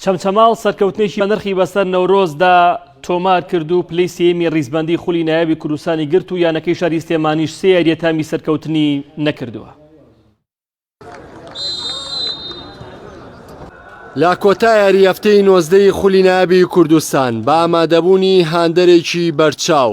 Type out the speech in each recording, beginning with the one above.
چەمچەماڵ سەرکەوتنێکی بەنرخی بەسەر نەورۆزدا تۆمار کرد و پلەی سێیەمی ریزبەندی خولی نایابی کوردستانی گرت و یانەکەی شاری سلێمانیش سێ یارییە تامی سەرکەوتنی نەکردووە. لە کۆتا یاری هەفتەی نۆزدەی خولی نایابی کوردستان بە ئامادەبوونی هاندەرێکی بەرچاو،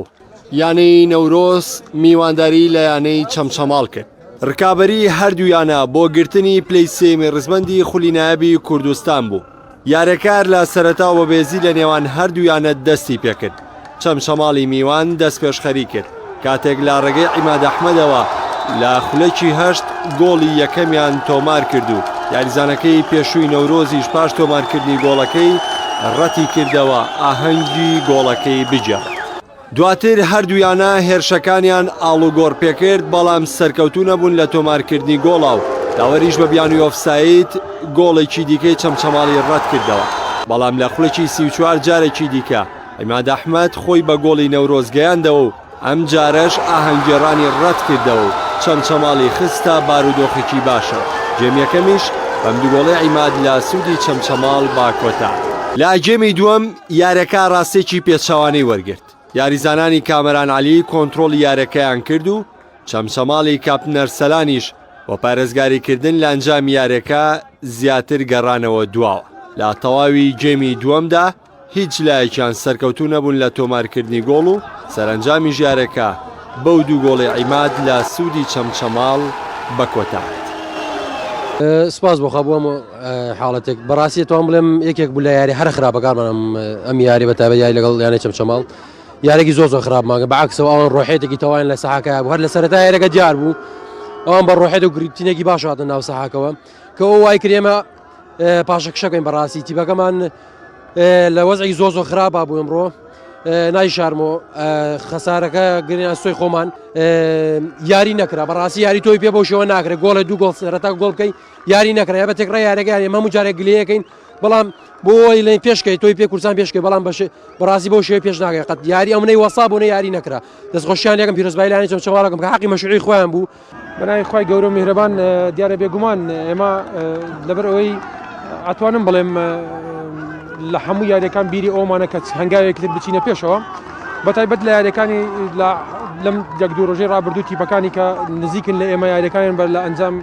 یانەی نەورۆز میوانداری لە یانەی چەمچەماڵ کرد. رکابەری هەردوو یانە بۆ گرتنی پلەی سێیەمی رزبەندی خولی نایابی کوردستان بوو، یاریەکار لە سەرەتاوە بەبێزی لە نێوان هەردوو یانە دەستی پێکرد، چەمچەماڵی میوان دەستپێشخەری کرد، کاتێک لە رێگەی عیماد ئەحمەدەوە لە خولەکی هەشت گۆڵی یەکەمیان تۆمارکرد و یاریزانەکەی پێشووی نەورۆزیش پاش تۆمارکردنی گۆڵەکەی رەتیکردەوە ئاهەنگی گۆڵەکەی بگێڕێت. دواتر هەردوویانە هێرشەکانیان ئاڵوگۆڕ پێکرد، بەڵام سەرکەوتوو نەبوون لە تۆمارکردنی گۆڵا و داوەریش بە بیانووی ئۆفساید گۆڵێکی دیکەی چەمچەماڵی رەتکردەوە، بەڵام لە خولەکی سی و چوار جارێکی دیکە عیماد ئەحمەد خۆی بە گۆڵی نەورۆز گەیاندەوە و ئەمجارەش ئاهەنگگێڕانی رەتکردەوە و چەمچەماڵی خستە بارودۆخێکی باشەوە، گێم یەکەمیش بەم دووگۆڵەی عیماد لە سوودی چەمچەماڵ با کۆتا. لە گێمی دووەم یاریەکە راستێکی پێچەوانەی وەرگرت، یاریزانانی کامەران عەلی کۆنترۆڵی یاریەکەیان کرد و چەمچەماڵی کاپتن ئەرسەلانیش بۆ پارێزگاریکردن لە ئەنجامی یاریەکە زیاتر گەڕانەوە دواوە. لە تەواوی گێمی دووەمدا هیچ لایەکیان سەرکەوتوو نەبوون لە تۆمارکردنی گۆڵ و سەرەنجامیش یاریەکە بەو دوو گۆڵی عیماد لە سوودی چەمچەماڵ بە کۆتاهات. سپاس بۆ خوا بۆ ئەم حاڵەتێک بەڕاستی توان بڵێم یەکێک بوو لە یاری هەر خراپەکانمان ئەم یاری بە تابە یاری لەگەڵ یانە چەمچەماڵ یارێکی زۆر زۆر خراپماگە بەعکسەوە ئەوان ڕۆحێتێکی تەوایان لە سەحاکە هەر لە سەرتا یارەکە دیار بوو ئەوان بە ڕۆحێت و گرتینێکی باش هاتە ناو سەحاکەوە کە ئەو وای کرێمە پاشەکشەکەین بەڕاستی تیبەکەمان لە وەزی زۆ زۆ خراپ بوو ئەمڕۆ نای شارمۆ خەسارەکە گرنیان سوی خۆمان یاری نەکرا بەڕاستی یاری تۆی پێ بۆ شەوە ناکرێت گۆڵە دوو گۆڵ سەرەتا گۆڵ بکەیت یاری نەکرای بە تێکڕای یارەکە یاری مەمو جارێک گلەکەین بەڵام بۆ ئەوەی لەین پێشکەی تۆی پێ کورسان پێشکەی بەڵام بەش بەڕاستی بۆ شێ پێش ناگەی قەت یاری ئەو منەی وەسا بۆنە یاری نەکرا دەستخۆشیان یەکەم پیرۆزبایلانی چۆن چاواڵەکەم کە حقی مەشوعی خۆیان بوو بەناوی خی گەورە میهرەبان دیارە بێگومان ئێمە لەبەر ئەوەی ئەتوانم بڵێم لە هەموو یاریەکان بیری ئەومانە کە هەنگاوێکتر بچینە پێشەوە بەتایبەت لە یاریەکانی لەم یەک دوو ڕۆژەی ڕابردوو تیپەکانی کە نزیکن لە ئێمە یاریەکانیان بەر لە ئەنجام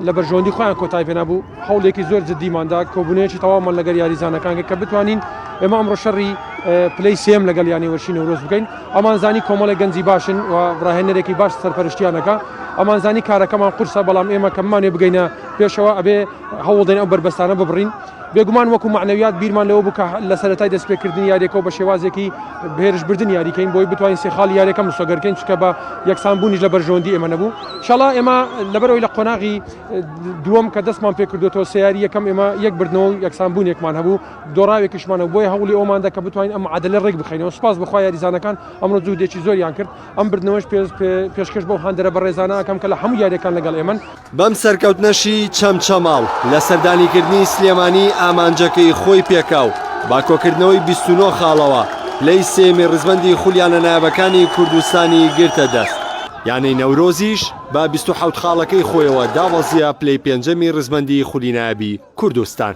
لە بەرژەوەندی خۆیان کۆتای پێنابوو هەوڵێکی زۆر جددیماندا کۆبوونەیەکی تەواومان لەگەر یاریزانەکانگە کە بتوانین ئێمە ئەمڕۆ شەڕی پلی سم لەگەڵ یانی وەرشی نەورۆز بکەین ئەمانزانی کۆمەڵی گەنجی باشن و ڕاهێنەرێکی باش سەرپەرشتیانەکە ئەمانزانی کارەکەمان قورسە بەڵام ئێمە کەمانێ بگەینە پێشەوە ئەبێ هەوڵدەین ئەو بەربەستانە ببڕین بێگومان وەکو مەعنەویات بیرمان لەوە بوو کە لە سەرەتای دەستپێکردنی یاریەکەوە بە شێوازێکی بەهێرش بردن یاری کەین بۆی بتوانین سێ خاڵی یاریەکە مسۆگەر کەین چونکە بە یەکسان بوونیش لە بەرژەوەندی ئێمە نەبوو شەڵا ئێمە لەبەر ئەوی لە قۆناغی دووەم کە دەستمان پێکردۆتەوە سێ یاری یەکەم ئێمە یەک بردنەوە و یەکسان بوونێکمان هەبوو دۆڕاوێکیشمان هەبوو بۆیە هەوڵی ئەوەمان دا کە بتوانین ئەم معادەلە ڕێک بخەینەوە سوپاس بەخوا یاریزانەکان ئەمڕۆ جوهدێکی زۆریان کرد ئەم بردنەوەش پێش پێشکەش بەو هاندەرە بەڕێزانە ئەکەم کە لە هەموو یاریەکان لەگەڵ ئێمەن. بەم سەرکەوتنەشی چەمچەماڵ لە سەردانیکردنی سلێمانی ئامانجەکەی خۆی پێکا و با کۆکردنەوەی بیست و نۆ خاڵەوە پلەی سێیەمی ڕیزبەندی خولیانە نایابەکانی کوردستانی گرتە دەست. یانەی نەورۆزیش بە بیست و حەوت خاڵەکەی خۆیەوە دابەزییە پلەی پێنجەمی ڕیزبەندی خولی نایابی کوردستان.